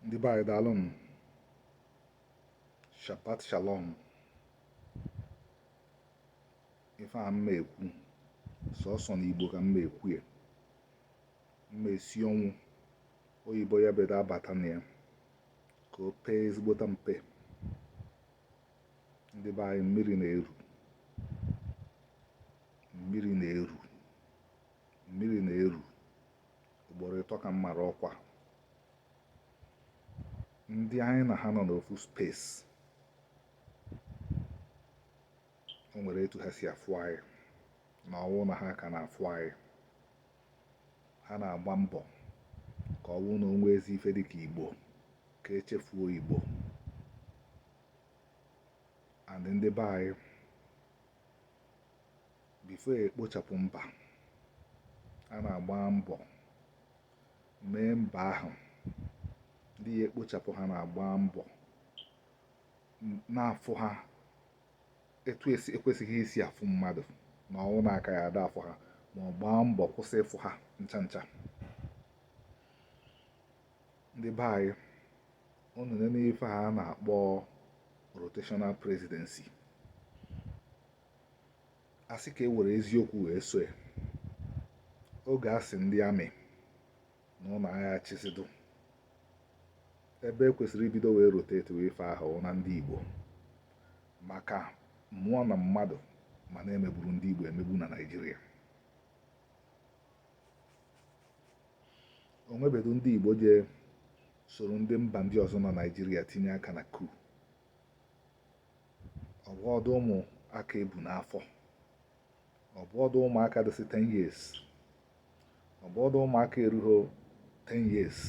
ndị be anyị daalụ nụ shabbat shalom ife a m ma-ekwu sọsọ na igbo ka m ma-ekwu ya m ma-esi ọnwụ oyibo ya bedo abata na ya ka o pee ezigbota mpe ndị be anyị mmiri na-eru mmiri na-eru mmiri na-eru ugboro ịtọ ka m mara ọkwa ndị anyị na ha nọ n'ofu space o nwere etu ha si afụ anyị na ọ wụ na ha ka na-afụ anyị ha na-agba mbọ ka ọ wụ na o nwezi ife dịka igbo ka e chefuo igbo and ndị be anyị before e kpochapụ mba a na-agba mbọ mee mba ahụ ndị ya ekpochapụ ha na-agba mbọ na-afụ ha etu e kwesịghị isi afụ mmadụ na ọ wụ na a ka ya ada afụ ha ma ọ gbaa mbọ kwụsị ịfụ ha ncha ncha ndị be anyị unu nene ife a na-akpọ rotational presidency a sị ka e were eziokwu wee so ya oge a sị ndị amị na ụnụ aha achịzịdụ ebe e kwesịrị ibido wee rotatiwe ife ahụ wụ na ndị Igbo maka mmụọ na mmadụ ma na e megburu ndị Igbo emegbu na Naịjirịa o nwebedu ndị Igbo je soro ndị mba ndị ọzọ na Naịjirịa tinye aka na coup ọ bụọdụ ụmụaka e bu n'afọ ọ bụọdụ ụmụaka dịsị 10 years ọ bụọdụ ụmụaka erughị 10 years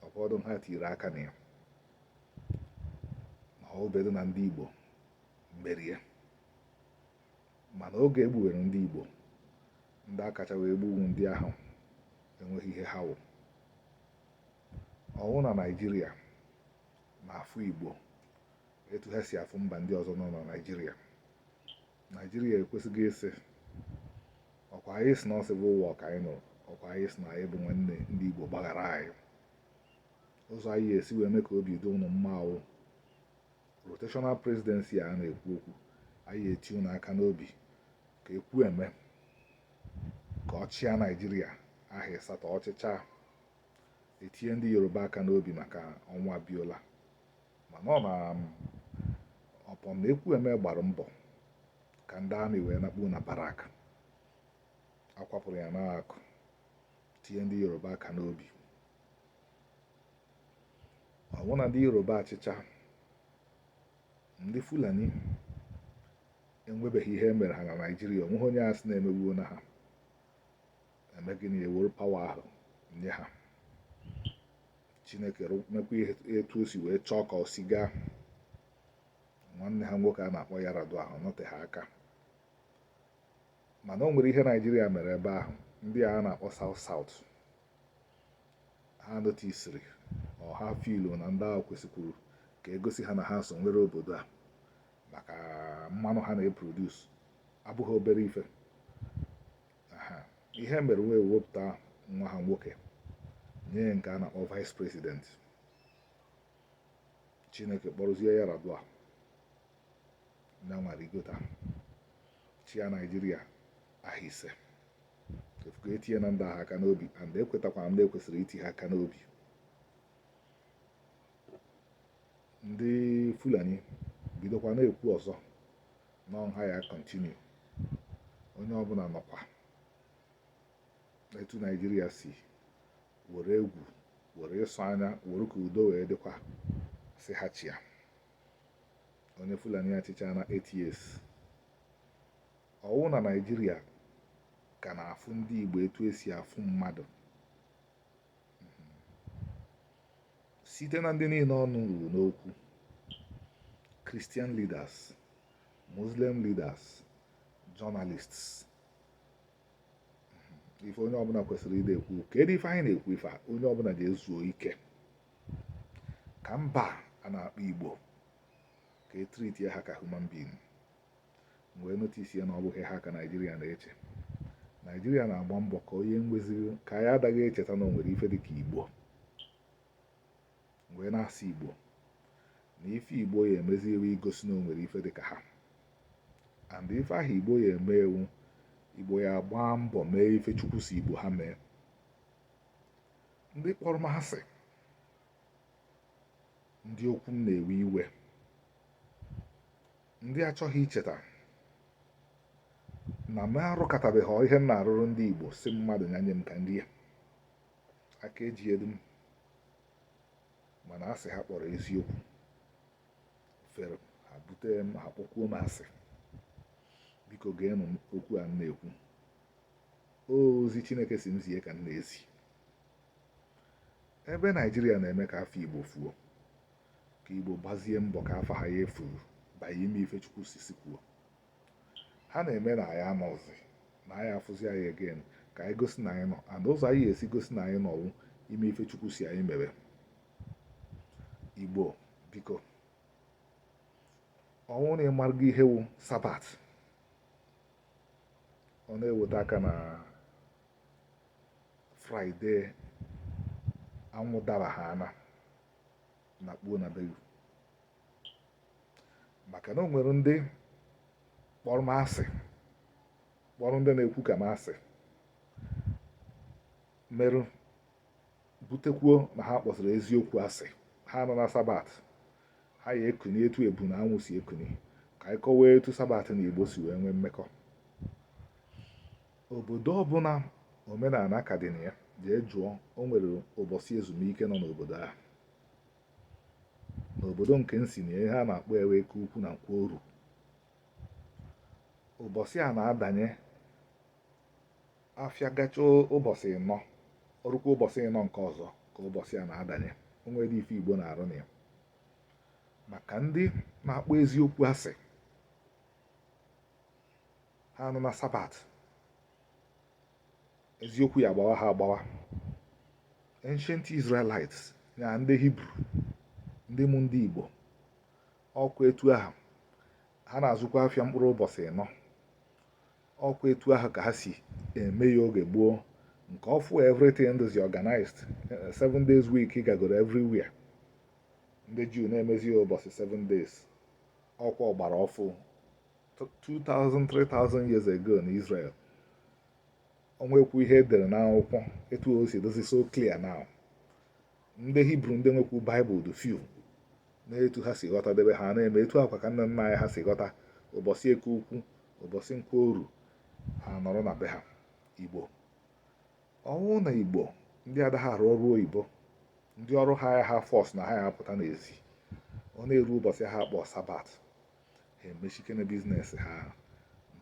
ọ bụọdụ ha tiri aka na ya ma ọ wụbedu na ndị Igbo mere ya mana oge e gbuwere ndị Igbo ndị a kacha wee gbuo wụ ndị ahụ enweghị ihe ha wụ ọ wụ na Naịjirịa na-afụ Igbo etu ha si afụ mba ndị ọzọ nọ na Naịjirịa Naịjirịa ekwesịghị ịsị ọkwa anyị sị na ọ civil war ka anyị nụrụ ọkwa anyị sị na anyị bụ nwanne ndị Igbo gbaghara anyị ụzọ anyị esi wee mee ka obi dị ụnụ mma wụ rotational presidency a na-ekwu okwu anyị eti ụnụ aka n'obi ka Ekwueme ka ọ chịa Naịjirịa ahọ ịsatọ ọ chịchaa etinye ndị yoruba aka n'obi maka ọnwụ abiola mana ọ na ọpọ na ekwueme gbara mbọ ka ndị amị wee nakpu na barak akwapụrụ ya n'akụkụ tinye ndị yoruba aka n'obi ọwụ na ndị yoruba achịcha ndị fulani enwebeghị ihe e mere ha na naijiria onweghị onye a sị na emegbuona ha eme gịnị ewere pawa ahụ nye ha chineke mekwa etu o si wee chọọ ka o si gaa nwanne ha nwoke a na-akpọ yar'adua ahụ nọteghị aka mana o nwere ihe naijiria mere ebe ahụ ndị a na-akpọ south south ha notisiri or ha filu na ndị ahụ kwesịkwuru ka egosi ha na ha so nwere obodo a maka mmanụ ha na-eproduce abụghị obere ife ihe mere wee wepụta nwa ha nwoke nye nke a na-akpọ vice president chineke kpọrọzie yar'adua na nwa rigota chịa naijiria ahọ ise ị fụgo etinye na ndị ahụ aka n'obi and ekwetakwa m na ekwesịrị iti ha aka n'obi ndị fulani bidokwa na-ekwu ọzọ na ọ ha ya continue onye ọbụla nọkwa etu naijiria si were egwu were ịsọ anya were ka udo wee dịkwa sị ha chịa onye fulani achịchana eight years ọwụ na naijiria ka na-afụ ndị igbo etu esi afụ mmadụ site na ndị niile ọnụ ruru n'okwu Christian leaders Muslim leaders journalists ife onye ọbụla kwesịrị ịdị ekwu kedu ife anyị na-ekwu ife a onye ọbụla ga-ezuo ike ka mba a na-akpọ Igbo ka etriti ha ka human being m wee notisie na ọ bụghị ha ka naijiria na-eche naijiria na-agba mbọ ka onye nweziri ka ya adaghị echeta na o nwere ife dịka igbo wee na-asị igbo na ife igbo ya emezi wụ igosi na o nwere ife dịka ha and ife ahụ igbo ya eme wụ igbo ya agba mbọ mee ife chukwu sị igbo ha mee ndị kpọrọ m asị ndị okwu m na-ewe iwe ndị achọghị icheta na m arụkọtabeghị ihe m na-arụrụ ndị Igbo sị mmadụ ya nye m ka nri ya aka eji edu m mana asị ha kpọrọ eziokwu fere ha bute m ha kpọkwuo m asị biko geenụ okwu a m na-ekwu ozi Chineke sị m zie ka m na-ezi ebe Naijiria na-eme ka afa Igbo fuo ka Igbo gbazie mbọ ka afa ha ya efuru banye ime ife Chukwu sisi kwuo ha na-eme na anyị anọzi na anyị afụzi anyị again ka anyị gosi na anyị nọ and ụzọ anyị ya-esi gosi na anyị nọ wụ ime ife Chukwu sị anyị mere Igbo biko ọ wụ na ị marago ihe wụ sabat ọ na-eweta aka na fraịde anwụ dara ha ana nakpuo na belu maka na o nwere ndị kpọrọ m asị kpọrọ ndị na-ekwu ka m asị mere butekwuo na ha kpọzịrị eziokwu asị ha anụ na sabat ha ya ekuni etu ebu na anwụ si ekuni ka anyị kọwaa etu sabat na igbo si wee nwee mmekọ Obodo ọbụna omenana ka dị na ya jee jụọ o nwere ụbọsị ezumike nọ n'obodo ahụ n'obodo nke m si na ihe a na-akpọ ya wụ eke ukwu na nkwọ oru ụbọsị a na-adanye afịa gachaa ụbọsị ịnọ o rukwa ụbọsị ịnọ nke ọzọ ka ụbọsị a na-adanye o nwerọ ife igbo na-arụ na ya maka ndị na-akpọ eziokwu asị ha anụ na sabat eziokwu ya agbawa ha agbawa ancient israelites na ndị hibru ndị mụ ndị igbo ọkwa etu ahụ ha na-azụkwa afịa mkpụrụ ụbọchị ịnọ ọkwa etu ahụ ka ha si eme ya oge gboo nke ọfụụ everything dịzị organized eh, seven days week gagoro everywhere ndị juu na-emezi ya ụbọsị seven days ọkwa ọ gbara ọfụụ 2000 3000 years ago na Israel o nwekwu ihe e dere n'akwụkwọ etu o si dịzị so clear now ndị hibru ndị nwekwu baịbụl dị few na etu ha si ghọta debe ha na-eme etu a kwa ka nna nna anyị ha si ghọta ụbọsị eke ukwu ụbọsị nkwọ oru ha nọrọ na be ha igbo ọ wụ na igbo ndị adaghị arụ ọrụ oyibo ndị ọrụ ha ya ha force na ha ya apụta n'ezi ọ na-eru ụbọchị ha akpọ sabbath ha emechikene business ha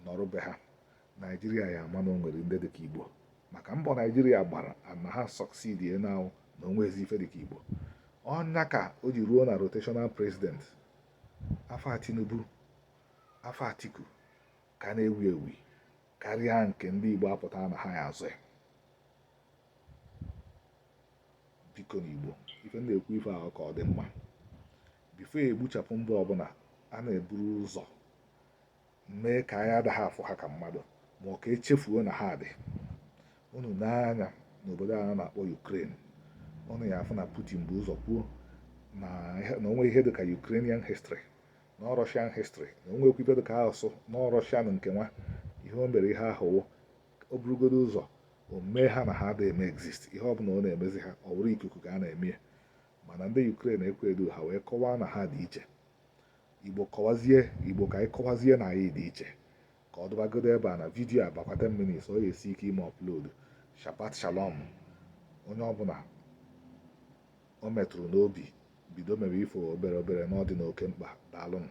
nọrọ be ha naijiria ya ama na o nwere ndị dịka igbo maka mbọ naijiria gbara na ha succeed na ya wụ na o nweezi ife dịka igbo ọ nya ka o ji ruo na rotational president afa tinubu afa atiku ka na-ewu ewu karịa nke ndị Igbo apụta na ha ya azọ ya biko ndị Igbo ife na-ekwu ife a ka ọ dị mma before e gbuchapụ mba ọbụla a na-eburu ụzọ mee ka anyị adaghị afụ ha ka mmadụ ma ọ ka e chefuo na ha dị unu nee anya n'obodo a na-akpọ Ukraine unu ya afụ na Putin bu ụzọ kwuo na o nwee ihe dị ka Ukrainian history na Russian history na o nweekwu ife dị ka asụsụ na Russian nke nwa ihe o mere ihe ahụ wụ o burugodo ụzọ o mee ha na ha adịghị eme exist ihe ọ bụla ọ na-emezi ha ọ bụrụ ikuku ka a na-eme ya mana ndị Ukraine ekweedu ha wee kọwaa na ha dị iche igbo kọwazie igbo ka anyị kọwazie na anyị dị iche ka ọ dụbagodo ebe a na video a bakwa 10 minutes ọ ga-esi ike ime upload shabbat shalom onye ọbụla o metụrụ n'obi bido mewe ife obere obere na ọ dị n'oke mkpa daalụnụ